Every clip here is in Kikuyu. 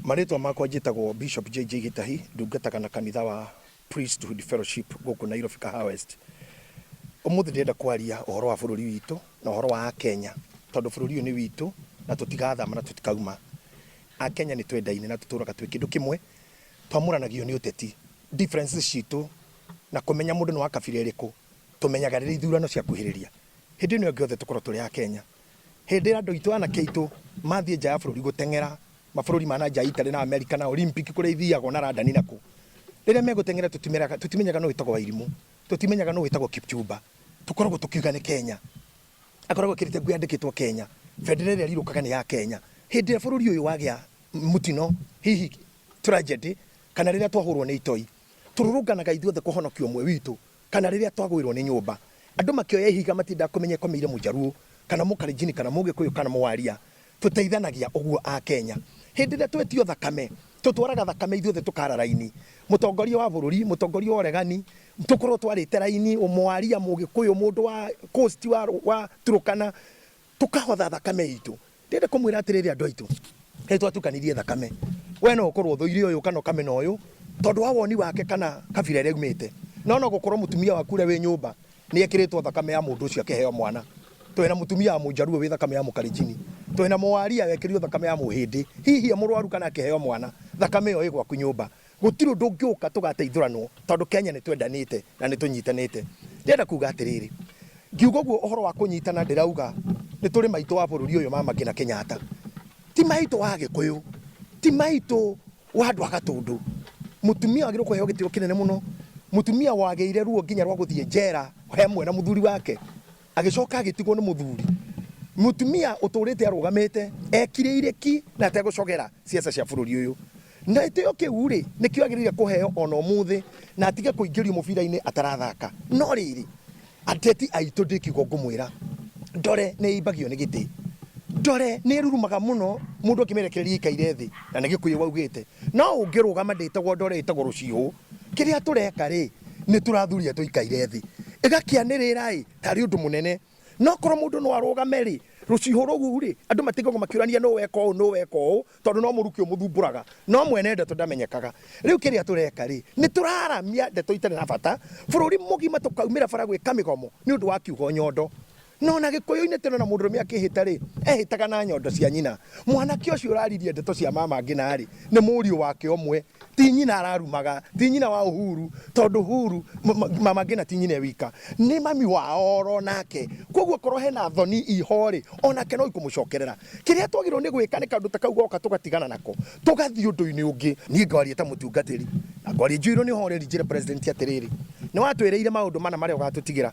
Marĩtwa makwa njĩtagwo Bishop JJ Gĩtahi, ndungataga na kanitha wa Priesthood Fellowship gũkũ Nairobi Kahawa West. Ũmũthĩ ndĩrenda kwaria ũhoro wa bũrũri witũ na ũhoro wa Akenya, tondũ bũrũri ũyũ nĩ witũ na tũtigathama na tũtikauma. Akenya nĩ twendaine na tũtũraga twĩ kĩndũ kĩmwe, twamũranagio nĩ ũteti, differences citũ na kũmenya mũndũ nĩ wa kabira ĩrĩkũ tũmenyaga rĩrĩa ithurano ciakuhĩrĩria. Hĩndĩ ĩno ĩngĩ othe tũkorwo tũrĩ Akenya. Hĩndĩ andũ aitũ anake aitũ mathiĩ nja ya bũrũri gũteng'era mabũrũri ma nanja Italy na Amerika na Olympic kũrĩa ithiagwo na London na kũ, rĩrĩa megũteng'era tũtimenyaga nũ wĩtagwo Wairimũ, tũtimenyaga nũ wĩtagwo Kipchumba, tũkoragwo tũkiuga nĩ Kenya. Akoragwo ekĩrĩte nguo yandĩkĩtwo Kenya, bendera ĩrĩa ĩrirũkaga nĩ ya Kenya. Hĩndĩ ĩrĩa bũrũri ũyũ wagĩa mũtino, hihi tragedy, kana rĩrĩa twahũrwo nĩ itoi, tũrũrũnganaga ithuothe kũhonokia ũmwe witũ. Kana rĩrĩa twagũĩrwo nĩ nyũmba andũ makĩoya ihiga matiendaga kũmenya ĩkomeire mũjaruo kana mũkalenjini kana mũgĩkũyũ kana mũwaria. Tũteithanagia ũguo a Kenya. Hĩndĩ ĩrĩa twetio thakame, tũtwaraga thakame ithuothe tũkara raini. Mũtongoria wa bũrũri, mũtongoria wa ũregani, tũkorwo twarĩte raini, mũwaria, mũgĩkũyũ, mũndũ wa coast wa Turũkana, Tũkahotha thakame itũ. Ndĩrenda kũmwĩra atĩrĩrĩ andũ aitũ, nĩ twatukanirie thakame. We no ũkorwo ũthũire ũyũ kana ũkamena ũyũ tondũ wa woni wake kana kabira ĩrĩa aumĩte. No no gũkorwo mũtumia waku ũrĩa wĩ nyũmba nĩ ekĩrĩtwo thakame ya mũndũ ũcio akĩheo mwana. Twĩ na mũtumia wa Mũjaluo wĩ thakame ya Mũkalenjini. Twĩ na Mũwaria wekĩrirwo thakame ya Mũhĩndĩ. Hihi e mũrwaru kana akĩheo mwana, thakame ĩyo ĩ gwaku nyũmba. Gũtirĩ ũndũ ũngĩũka tũgateithũranwo tondũ Kenya nĩ twendanĩte na nĩ tũnyitanĩte. Ndĩrenda kuuga atĩrĩrĩ, ngiuga ũguo ũhoro wa kũnyitana ndĩrauga nĩ tũrĩ maitũ wa bũrũri ũyũ Mama Ngina Kenyatta. Ti maitũ wa Agĩkũyũ, ti maitũ wa andũ a Gatũndũ. Mũtumia wagĩrĩirwo kũheo gĩtĩo kĩnene mũno, mũtumia wagĩire ruo nginya rwa gũthiĩ njera he hamwe na mũthuri wake. Agĩcoka agĩtigwo nĩ mũthuri. Mũtumia ũtũrĩte arũgamĩte ekirĩire ki na ategũcogera ciaca cia bũrũri ũyũ. Na gĩtĩo kĩu-rĩ, nĩkĩo agĩrĩire kũheo o na ũmũthĩ na atige kũingĩrio mũbira-inĩ atarathaka. No rĩrĩ, ateti aitũ ndĩ kiugo ngũmwĩra, ndore nĩ ĩimbagio nĩ gĩtĩ. Ndore nĩ ĩrurumaga mũno mũndũ akĩmĩrekereria ĩikaire thĩ, na nĩ Gĩkũyũ waugĩte. No ũngĩrũgama ndĩtagwo ndore ĩtagwo rũciũ. Kĩrĩa tũreka-rĩ, nĩtũrathuria tũikaire thĩ, ĩgakĩanĩrĩra-ĩ, tarĩ ũndũ mũnene. No korwo mũndũ no arũgame-rĩ, rũciho rũu-rĩ, andũ matigagwo makĩũrania nũ weka ũũ, nũ weka ũũ, tondũ no mũrukĩ ũmũthumbũraga, no mwene ndeto ndamenyekaga. Rĩu kĩrĩa tũreka-rĩ, nĩtũraramia ndeto itarĩ na bata, bũrũri mũgima tũkaumĩra bara gwĩka mĩgomo nĩũndũ wa kiugo nyondo. No na Gĩkũyũ-inĩ teno na mũndũrũme akĩhĩta-rĩ, ehĩtaga na nyondo cia nyina. Mwanake ũcio ũraririe ndeto cia mama Ngina-rĩ, nĩ mũriũ wake ũmwe. Ti nyina ararumaga, ti nyina wa Uhuru, tondũ Uhuru, mama Ngina ti nyina e wika, nĩ mami wao oro nake. Kwoguo korwo hena thoni i ho-rĩ, onake no ikũmũcokerera. Kĩrĩa twagĩrĩirwo nĩ gwĩka nĩ kaũndũ ta kau goka tũgatigana nako, tũgathiĩ ũndũ-inĩ ũngĩ. Niĩ ngwaria ta mũtungatĩri, na ngwaria njiyũirwo nĩ ũhoreri njĩre President atĩrĩrĩ, nĩ watwĩrĩire maũndũ mana marĩa ũgatũtigĩra.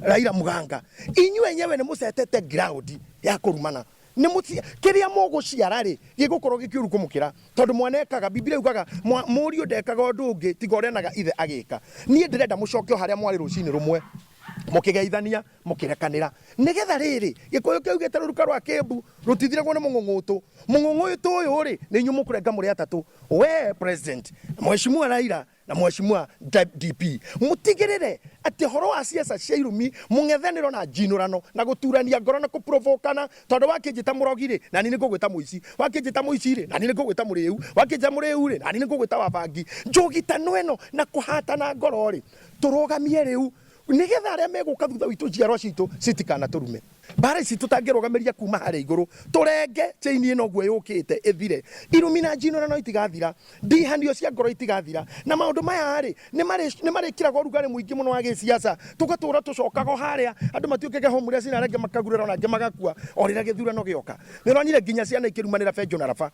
Raila Muganga inyuĩ enyewe nĩ mũcetete ground ya kũrumana nĩ mũci kĩrĩa mũgũciara rĩ gĩgũkorwo gĩkĩũru kũmũkĩra tondũ mwana ekaga Biblia yugaga mwa- mũriũ ndekaga ũndũ ũngĩ tiga ũrĩa naga ithe agĩka niĩ ndĩrenda mũcoke o harĩa mwarĩ rũcinĩ rũmwe mũkĩgeithania mũkĩrekanĩra nĩgetha rĩrĩ gĩkũyũ kĩaugĩte rũruka rwa kĩmbu rũtithiragwo nĩ mũng'ũng'ũtũ mũng'ũng'ũtũ ũyũ rĩ nĩ inyuĩ mũkũrenga mũrĩ atatũ we president mheshimiwa Raila na Mweshimua DP mũtigĩrĩre atĩ ũhoro wa ciaca cia irumi mũng'ethanĩro na njinũrano na gũturania ngoro na kũprovokana tondũ wakĩnjĩta mũrogi rĩ nani nĩngũgwĩta mũici wakĩnjĩta mũici rĩ nani nĩngũgwĩta mũrĩu wakĩnjĩta mũrĩu rĩ nani nĩngũgwĩta wa bangi njũgitano ĩno na kũhatana ngoro rĩ tũrũgamie rĩu nĩgetha arĩa megũka thutha witũ njiarwa citũ citikanatũrume. Mbaara ici tũtangĩrũgamĩria kuuma harĩa igũrũ, tũrenge chain ĩno ũguo yũkĩte ĩthire, irumina njino na no itigathira, ndihanio cia ngoro itigathira, na maũndũ maya-rĩ, nĩmarĩkĩraga ũrugarĩ mũingĩ mũno wa gĩsiasa, tũgatũũra tũcokaga o harĩa, andũ matuĩkage homeless na arĩa angĩ makagurara na angĩ magakua o rĩrĩa gĩthurano gĩoka. Nĩũronire nginya ciana ikĩrumanĩra benjo na raba.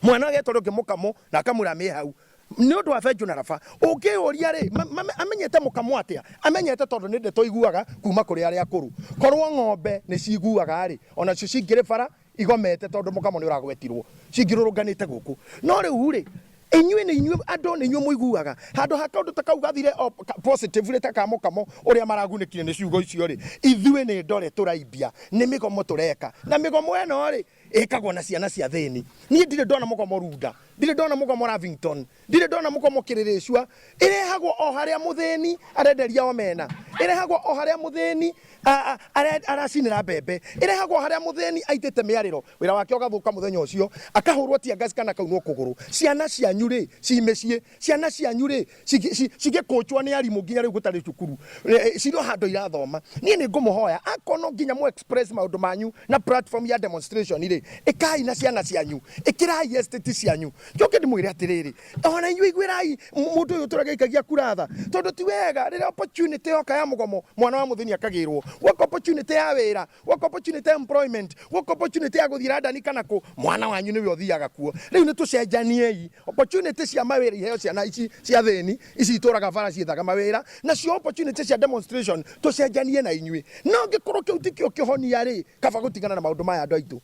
Mwana agetwo rĩngĩ mũkamo na akamwĩra amĩhe hau. Nĩ ũndũ wa benjũ na raba. Ũngĩyũria rĩ, amenyete mũkamo atĩa? Amenyete tondũ nĩ ndeto aiguaga kuma kũrĩ arĩa akũrũ. Korwo ng'ombe nĩ ciguaga rĩ, ona cio cingĩrĩ bara igomete tondũ mũkamo nĩ ũragwetirwo, cingĩrũrũnganĩte gũkũ. No rĩu rĩ, inyuĩ nĩ inyuĩ andũ nĩ inyuĩ mũiguaga. Handũ ha kaũndũ ta kau gathire o positively ta ka mũkamo ũrĩa maragunĩkire nĩ ciugo icio rĩ, ithuĩ nĩ ndore tũraimbia, nĩ mĩgomo tũreka. Na mĩgomo ĩno rĩ, ĩkagwo na ciana cia thĩni niĩ ndirĩ ndona mũgomo runda ndirĩ ndona mũgomo ravington ndirĩ ndona mũgomo kĩrĩrĩcua ĩrehagwo o harĩa mũthĩni arenderia omena ĩrehagwo o harĩa mũthĩni a- a- are- aracinĩra mbembe ĩrehagwo harĩa mũthĩni aitĩte mĩarĩro wĩra wake ũgathũka mũthenya ũcio akahũrwo tiangasi kana kaunwo kũgũrũ ciana cianyu rĩ ci mĩciĩ Ciana cianyu rĩ, cigĩ- ci- cigĩkũnjwo nĩ arimũ nginya rĩu gũtarĩ cukuru eh, cirĩ o handũ irathoma niĩ nĩ ngũmũhoya akorwo no nginya mũ express maũndũ manyu na platform ya demonstration rĩ ĩkai na ciana cianyu ĩkĩrai estate cianyu njoke ndĩmwĩre atĩrĩrĩ ona inyuĩ iguĩrai mũ- mũndũ ũyũ ũtũra gĩikagia kura tha tondũ ti wega rĩrĩa opportunity yoka ya mũgomo mwana wa mũthĩni akagĩrwo gwaka opportunity ya wĩra work opportunity employment work opportunity ya guthira ndani kana ku mwana wanyu niwe uthiaga kuo riu ni tucenjaniei opportunity cia mawira iheo ciana ici cia thini ici ituraga bara ciethaga mawira nacio opportunity cia demonstration tucenjanie na inyui no ngikorwo kiu tikio kihonia ri kaba gutigana na maundu maya andu aitu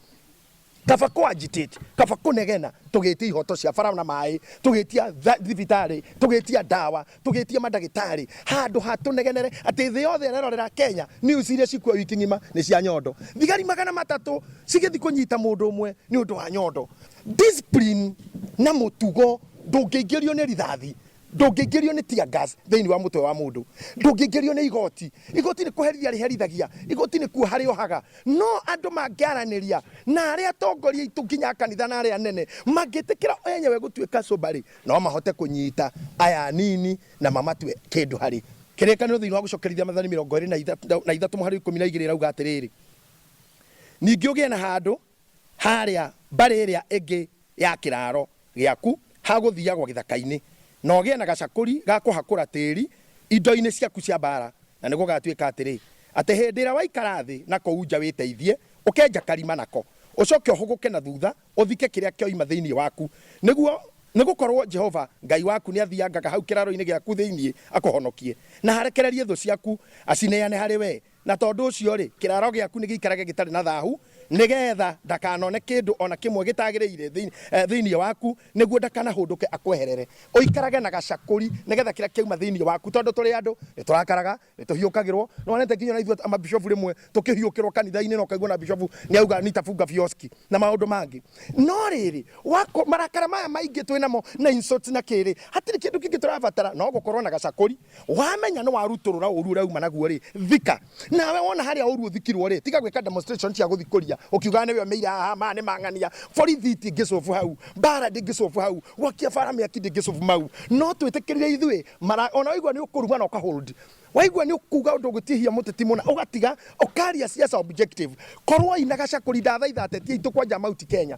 Kaba ko agitate, kaba kũnegena tũgĩtia ihoto cia bara na maĩ, tũgĩtia thibitarĩ, tũgĩtia ndawa, tũgĩtia mandagĩtarĩ, handũ ha tũnegenere atĩ thĩ yothe ĩrerorera Kenya news iria cikuo wiki ng'ima nĩ cia nyondo. Thigari magana matatũ cigĩthi kũnyita mũndũ ũmwe nĩ ũndũ wa nyondo. Discipline na mũtugo ndũngĩingĩrio nĩ rithathi. Ndũngĩingĩrio nĩ tear gas thĩinĩ wa mũtwe wa mũndũ. Ndũngĩingĩrio nĩ igoti. Igoti nĩ kũherithia rĩherithagia. Igoti nĩkuoha rĩohaga. No andũ mangĩaranĩria na arĩa atongoria aitũ nginya a kanitha na arĩa anene mangĩtĩkĩra o enyewe gũtuĩka cuba-rĩ, no mahote kũnyita aya anini na mamatue kĩndũ harĩ. Kĩrĩkanĩro thĩinĩ wa Gũcokerithia Mathani mĩrongo ĩĩrĩ na ithatũ mũhari wa ikũmi na igĩrĩ ĩrauga atĩrĩrĩ, Ningĩ ũgĩe na handũ. haarĩa mbarĩ ĩrĩa ĩngĩ ya kĩraaro gĩaku ha gũthiiagwo gĩthakainĩ, na ũgĩe na gacakũri ga kũhakũra tĩĩri indoinĩ ciaku cia mbaara, na nĩgũgatuĩka atĩrĩ, atĩ hĩndĩ ĩrĩa waikara thĩ na kũu nja wĩteithie, ũkenja karima nako, ũcooke ũhũgũke na thuutha ũthike kĩrĩa kĩoima thĩinĩ waku, nĩguo nĩgũkorwo Jehova Ngai waku nĩathiiangaga hau kĩraroinĩ gĩaku thĩinĩ akũhonokie, na arekererie thũ ciaku acineane harĩ wee. Na tondũ ũcio-rĩ, kĩraaro gĩaku nĩgĩikarage gĩtarĩ na thaahu, nĩgeetha ndakanone kĩndũ o na kĩmwe gĩtaagĩrĩire thĩinĩ waku, nĩguo ndakanahũndũke akweherere. Ũikarage na gacakũri nĩgeetha kĩrĩa kĩauma thĩinĩ waku. Tondũ tũrĩ andũ, nĩtũrakaraga, nĩtũhiũkagĩrwo. Nĩwonete nginya o na ithuĩ mabishobu rĩmwe tũkĩhiũkĩrwo kanitha-inĩ, na ũkaigua o na bishobu nĩauga nitafunga vioski, na maũndũ mangĩ. No rĩrĩ, marakara maya maingĩ twĩ namo, na insults na kĩĩ-rĩ, hatirĩ kĩndũ kĩngĩ tũrabatara no gũkorwo na gacakũri. Wamenya nĩ warutũrũra ũru ũrĩa uma naguo rĩ, thika. Nawe wona harĩa ũru ũthikirwo rĩ, tiga gwĩka demonstration cia gũthikũria ũkiugaga nĩwe ũmeire aha, maya nĩ mang'ania. Borithi itingĩ solve hau, mbara ndĩngĩ solve hau, gwakia bara mĩaki ndĩngĩ solve mau. No twĩtĩkĩrire ithuĩ mara, ona waigua nĩ ũkũruma na ũka hold. Waigua nĩ ũkuga ũndũ ũgũtihia mũteti mũna ũgatiga, ũkaria siasa objective. Korwoi na Gacakũri ndathaitha ateti aitũ kwanja Mount Kenya.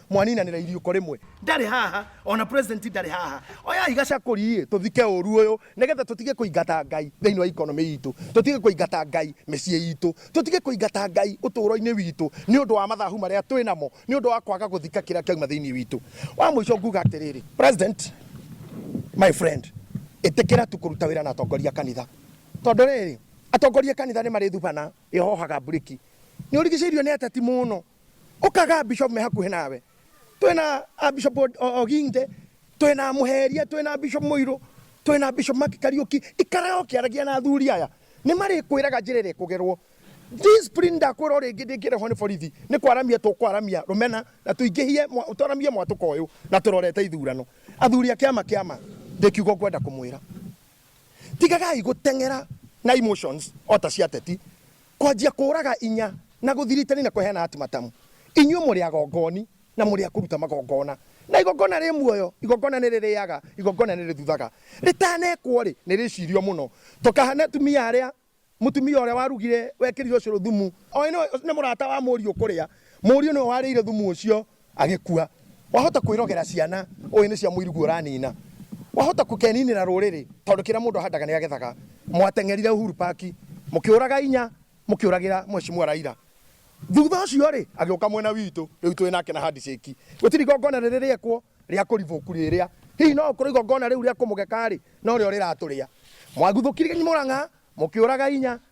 mwaninanira iriuko rimwe ndari haha ona president ndari haha oyai gacakuri tuthike uru uyu nigetha tutige kuingata ngai thiini wa economy itu tutige kuingata ngai micie itu tutige kuingata ngai uturo-ini witu ni undu wa mathahu maria twi namo ni undu wa kwaga guthika kiria kiauma thiini witu wa muico nguga atiriri president my friend itikira tu kuruta wira na atongoria kanitha tondu riri atongoria kanitha ni marithubana ihohaga mburiki ni urigiceirio ni ateti muno Ũkaga Bishop me hakuhĩ nawe. Twĩ na a Bishop O- O- Oginte, twĩ na Mũheria, twĩ na Bishop Mũirũ, twĩ na Bishop Mark Kariuki. Ikaraga ũkĩaragia na athuri aya. Nĩ marĩkwĩraga njĩra ĩrĩa ĩkũgerwo. Discipline ndakwĩra o rĩngĩ ndĩngĩrehwo nĩ borithi. Nĩ kwaramia tũkwaramia rũmena na tũingĩhie mwa- twaramie mwatũka ũyũ na tũrorete ithurano. Athuri a kĩama kĩama ndĩ kiugo ngwenda kũmwĩra. Tigagai gũteng'era na emotions o ta cia ateti. Kwanjia kũũraga inya, na gũthiritani, na kũheana atimatamu, inyuĩ mũrĩ agongoni, na mũrĩ a kũruta magongona, na igongona rĩ muoyo, igongona nĩ rĩrĩaga, igongona nĩ rĩthuthaga, rĩtanekwo-rĩ, nĩ rĩcirio mũno, to kahane atumia arĩa, mũtumia ũrĩa warugire, wekĩrire ũcũrũ thumu, oĩ nĩ mũrata wa mũriũ kũrĩa, mũriũ nĩwe warĩire thumu ũcio, agĩkua. Wahota kwĩrogera ciana ũĩ nĩ cia mũiruguo ũranina. Wahota kũkeninĩra rũrĩrĩ tondũ kĩrĩa mũndũ ahandaga nĩ agethaga. Mwateng'erire Uhuru Park mũkĩũraga inya mũkĩũragĩra Mheshimiwa Raila. Thutha ũcio rĩ, agĩũka mwena witũ rĩu twĩ nake na handshake. Gũtirĩ igongona rĩrĩ rĩekwo rĩa kũribũku rĩrĩa. Hihi no gũkorwo igongona rĩu rĩa kũmũgeka rĩ, norĩo rĩratũrĩa. Mwaguthũkirie Murang'a mũkĩũraga inya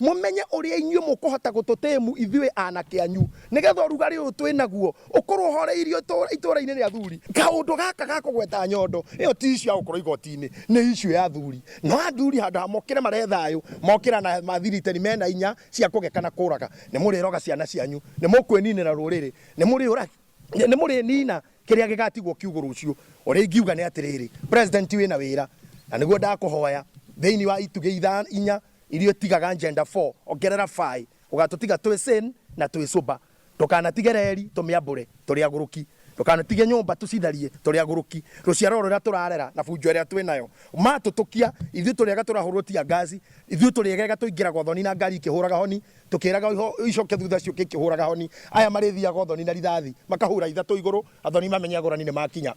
Mũmenye ũrĩa inyuĩ mũkũhota gũtũtĩĩmu ithuĩ aanake anyu, nĩ getha ũrugarĩ ũyũ twĩ naguo ũkorwo ũhooreirio itũũra-inĩ rĩa athuri. Kaũndũ gaka ga kũgweta nyondo ĩyo ti issue ya gũkorwo igooti-inĩ, nĩ issue ya athuri. Nao athuri handũ ha mokĩre marehe thayũ, mokĩra na mathiriteni me na inya cia kũgeka na kũũraga. Nĩ mũrĩroga ciana cianyu, nĩ mũkwĩniinĩra rũrĩrĩ, nĩ mũrĩniina kĩrĩa gĩgaatigwo kiugũ rũciũ. Ũrĩa ingiuga nĩ atĩrĩrĩ, President wĩ na wĩra, na nĩguo ndakũhoya, thĩinĩ wa itugĩ inya, Iria ũtigaga Njenda four ongerera Faĩ ũgatũtiga twĩ sane na twĩ sober Ndũkanatige reri tũmĩambũre tũrĩ agũrũki Ndũkanatige nyũmba tũcitharie tũrĩ agũrũki Rũciaro rũrĩa tũrarera na bunjo ĩrĩa twĩ nayo Matũtũkia ithuĩ tũrĩega tũrahũrwo tia ngaci Ithuĩ tũrĩegega tũingĩraga ũthoni na ngari ikĩhũraga honi Tũkĩraga icoke thutha ciũke ikĩhũraga honi Aya marĩthiaga ũthoni na rithathi makahura ithatũ igũrũ Athoni mamenye agũrani nĩmakinya.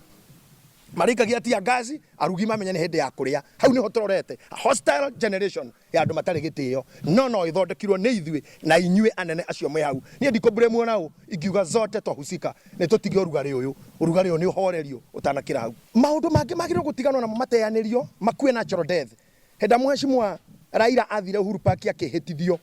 Marĩkagia tia ngaci, arugi mamenye nĩ hĩndĩ ya kũrĩa. Hau nĩho tũrorete. A hostile generation ya andũ matarĩ gĩtĩo. No no ĩthondekirwo nĩ ithuĩ na inyuĩ anene acio mwĩ hau. Niĩ ndikũ blame ona ũ, ingiuga zote twahusika. Nĩ tũtige ũrugarĩ ũyũ. Ũrugarĩ ũyũ nĩ ũhorerio ũtanakĩra hau. Maũndũ mangĩ magĩrĩirwo gũtiganwo namo mateanĩrio, makue natural death. Hĩndĩ Mheshimiwa Raila athire Uhuru Park akĩhĩtithio,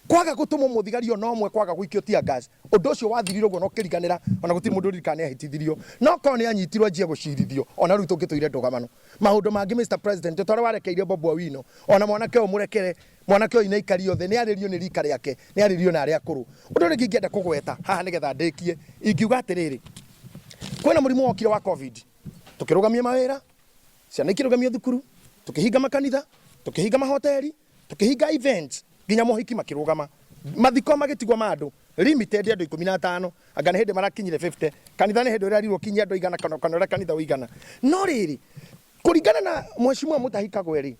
kwaga gũtũmwo mũthigari o na ũmwe, kwaga gũikio tear gas, ũndũ ũcio wathirire ũguo na ũkĩriganĩra, o na gũtirĩ mũndũ ũririkana nĩ ahĩtithirio. No korwo nĩ anyitirwo anjie gũcirithio, o na rĩu tũngĩtũire ndũgamano. Maũndũ mangĩ Mister President, o ta ũrĩa warekeire Bobi Owino, o na mwanake ũyũ mũrekere, mwanake ũyũ inaikario thĩ, nĩ arĩrio nĩ rika rĩake, nĩ arĩrio nĩ arĩa akũrũ. Ũndũ ũrĩa ũngĩ ingĩenda kũgweta haha nĩ getha ndĩkie, ingiuga atĩrĩrĩ, kwĩna mũrimũ wokire wa Covid, tũkĩrũgamia mawĩra, Ciana ikĩrũgamio thukuru, tũkĩhinga makanitha, tũkĩhinga mahoteri, tũkĩhinga events nginya mohiki makĩrũgama, mathiko magĩtigwo ma andũ limited andũ ikũmi na atano, anga nĩ hĩndĩ marakinyire 50, kanitha nĩ hĩndĩ ũrerirwo ũkinyie andũ aigana kana ũrĩa kanitha ũigana. No rĩrĩ, kũringana na Mheshimiwa Mutahi Kagwe rĩ,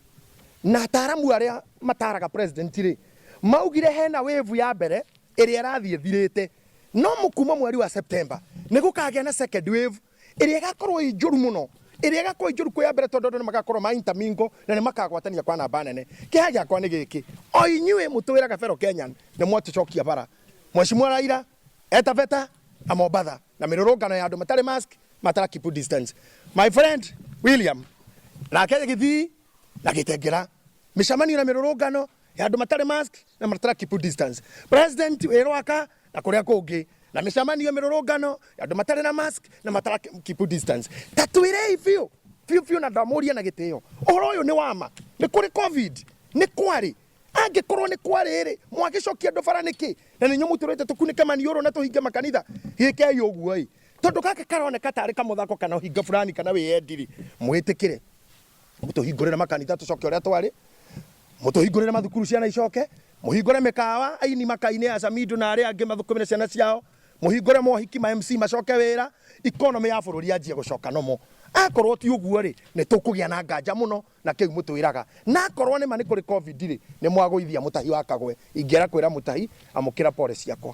na ataaramu arĩa mataaraga president rĩ, maugire hena wave ya mbere ĩrĩa ĩrathiĩ ĩthirĩte, no kuma mweri wa September nĩgũkagĩa na second wave ĩrĩa ĩgakorwo ĩ njũru mũno ĩrĩa ĩgakorwo ĩ njũru kwĩ ya mbere tondũ andũ nĩ magakorwo ma intermingle na nĩ makagwatania kwa namba nene kĩha gĩakwa nĩ gĩkĩ o inyuĩ mũtwĩraga fellow Kenyan nĩ mwatũcokia bara Mheshimiwa Raila eta beta na Mombatha na mĩrũrũngano ya andũ matarĩ mask matara keep distance my friend William nake gĩthii na gĩtengera mĩcemanio na mĩrũrũngano ya andũ matarĩ mask na matara keep distance president wĩ rwaka na kũrĩa kũngĩ na mĩcemanio mĩrũrũngano andũ matarĩ na mask na matara keep distance tatwĩrei biũ biũ biũ na ndamũria na gĩtĩo ũhoro ũyũ nĩ wama nĩ kũrĩ covid nĩ kwarĩ angĩkorwo nĩ kwarĩ rĩ mwagĩcokia andũ bara nĩkĩ na nĩnyuo mũtũrĩte tũkunĩke maniũrũ na tũhinge makanitha gĩkei ũguo ĩ tondũ gaka karoneka tarĩ kamũthako kana hinga fulani kana wĩyendi rĩ mwĩtĩkĩre mũtũhingũrĩre makanitha tũcoke ũrĩa twarĩ mũtũhingũrĩre mathukuru ciana icoke mũhingũre mĩkawa aini makainĩ ya camindu na arĩa angĩ mathũkũmĩre ciana ciao mũhingũre mohiki ma mc macoke wĩra ikonomĩ ya bũrũri yanjie gũcoka nomo akorwo ti ũguo rĩ nĩ tũkũgĩa na nganja mũno na kĩu mũtwĩraga na akorwo nĩ ma nĩ kũrĩ covid rĩ nĩ mwagũithia mũtahi wa kagwe ingĩera kwĩra mũtahi amũkĩra pole ciakwa